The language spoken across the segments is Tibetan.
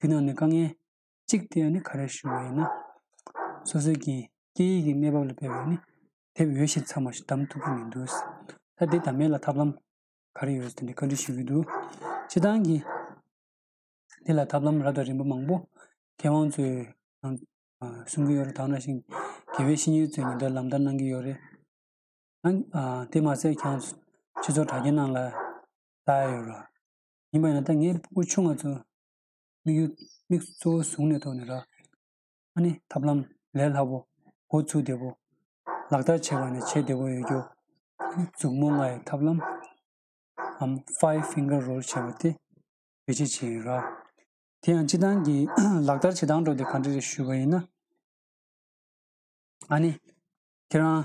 རྒྱུ་ནང་ནས་དཀའ་ངལ་གཅིག་དེ་ཡང་ནི་ག་རེ་ཞུ་བ་ཡིན་ན། སོ་སོའི་གིས་སྐད་ཡིག་གི་གནས་བབ་ལ་དཔེ་བས་ནི་དེབ་ཡོད་བཞིན་ཚང་མ་ཞིག་བདམས་ཐུབ་ཀྱི་མི་འདུག་ད་དེ་དང་མེད་ལ་ཐབས་ལམ་ག་རེ་ཡོད་དེ་འདྲའི་བཀའ་འདྲི་ཞུ་གི་འདུག་སྤྱི་བཏང་གིས་དེ་ལ་ཐབས་ལམ་རབ་དང་རིམ་པ་མང་པོ་མཁས་དབང་ཚོས་ནང་གསུང་གི་ཡོད་རེད་དག་ན་ཞིང་དགེ་བའི་བཤེས་གཉེན་ཚོས་ཉིན་ལྟར་ལམ་བསྟར་གནང་གི་ཡོད་རེད་ཨང། དེ་མ་ཟད་ཁྱེད་ཚོ་གྲྭ་རྒན་རྣམས་ལ་བལྟ་ཡོད་རེད། ཡིན་པ་ཡང་ད་ངས་སྤུ་གུ་ཆུང་ང་ཚོ་དམིགས་ཡུལ་དམིགས་གཙོ་བོ་བཟུང་ནས་ཐོག་ནས་རག་ཨ་ནི་ཐབས་ལམ་ལས་སླ་པོ་འགོ་ཚུགས་བདེ་པོ། ལག་བསྟར་བྱེད་པ་ནས་བྱེད་བདེ་པོ་ཡོད་རྒྱུ། མཛུབ་མོ་ལྔ་ཡི་ཐབས་ལམ་འམ Five Finger Rule བྱེད་པ་དེ་བེད་སྤྱད་བྱེད་ཡིན་རག། དེ་ཡང་སྤྱི་བཏང་གི་ལག་བསྟར་བྱེད་སྟངས་སྒྲོག་འདེབས་ག་འདྲ་རེ་ཞུས་པ་ཡིན་ན། ཨ་ནི་ཁྱེད་རང་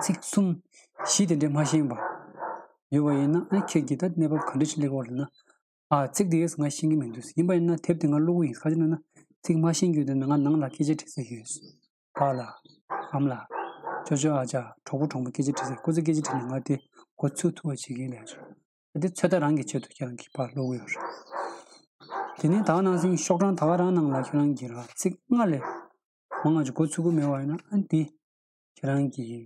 ཚིག་གསུམ། གཞི་དེ་འདྲས་མ་བཞེངས་པ། ཡོད་པ་ཡིན་ན་ཨ་ཁྱེད་ཀྱིས་ད་གནས་བབ་ག་འདྲས་ཤིག་གླེགས་བ་རེད་ན། ཨ་ཚིག་དེ་ཡོད་ས་ང་ཤེས་ཀྱི་མི་འདུག་ཡིན་པ་ཡིན་ན་དེབ་དེ་ང་བླུག་གི་ཡིན་ཁ་ཅིག་ན་ན་ཚིག་མ་བཞེངས་རྒྱུ་དེ་ན་ང་ནང་ལ་སྐད་ཆ་དྲི་སའི་ཡོད། ཕ་ལ། ཨམ་ལ། ཅོ་ཅོ་ཨ་ཅག་གྲོགས་པོ་གྲོགས་མོ་སྐད་ཆ་དྲི་སའི་ཁོ་ཚོས་སྐད་ཆ་དྲི་ནས་ང་དེ་འགོ་ཚུགས་ཐུབ་པ་བྱེད་ཀྱིན་ལས་ཆོག་ཨ་དེ་ཚོད་ལྟ་རང་གིས་བྱེད་དུ་ཀྱང་གི་པ་བླུག་གི་ཡོད་རེད། དེ་ནས་ད་ནང་སེང་ཤོག་གྲངས་ད་རང་ནང་ལ་ཁྱེད་རང་གིས་ར་ཚིག་ལྔ་ལས་མང་ང་ཅུ་འགོ་ཚུགས་ཀྱི་མེད་བ་ཡིན་ན་ཨ་འདི། ཁྱེད་རང་གི།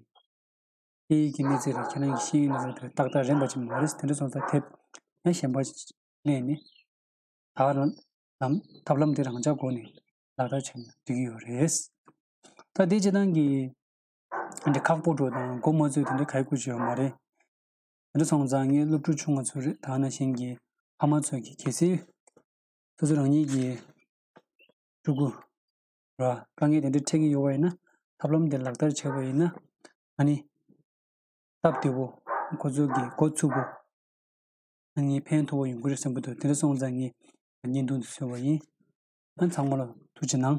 སྐད་ཡིག་གི་གནས་ཚད་རེད་ཁྱེད་རང་གི་ཤེས་ཡོན་གནས་ཚད་དེ་ཏག་ཏག་རན་པ་ཅིག་མ་རེད་དེ་འདྲ་སོང་ཙང་དེབ་ན་གཞན་པ་གནས་ནས། ད་ལམ་ལམ་ཐབས་ལམ་དེ་རང་འཇགས་སྒོ་ནས་ལག་བསྟར་བྱས་ན་འགྲིག་གི་ཡོད་རེད། ད་དེ་བྱེད་སྟངས་ཀྱི། དེ་འདྲ་ཁག་པོ་འགྲོ་དང་མགོ་མ་ཚོས་དེ་འདྲ་ག་གི་དགོས་ཆེ་བ་མ་རེད། དེ་འདྲ་སོང་ཙང་ངའི་སློབ་ཕྲུག་ཆུང་ང་ཚོ་རེད་ད་ང་ན་གཞན་གྱི་ཕ་མ་ཚོ་གི་གལ་སྲིད། སོ་སོ་རང་ཉིད་ཀྱི་ཕྲུ་གུ། ར། དཀའ་ངལ་དེ་འདྲ་འཕྲད་ཀྱི་ཡོད་པ་ཡིན་ན། ཐབས་ལམ་དེ་ལག་བསྟར་བྱས་པ་ཡིན་ན། ང་ནི། སྟབས་བདེ་བོ། འགོ་ཚུགས་ཀྱི་འགོ་ཚུགས་པོ། ང་ནི་ཕན་ཐོགས་པོ་ཡོང་གི་རེད་བསམ་གྱི་འདུག་དེ་འདྲ་སོང་ཙང་ངས་བརྙན་ཐུང་དེ་བཟོས་པ་ཡིན། ཨ་ཚང་མ་ལ་ཐུགས་ཆེ་གནང།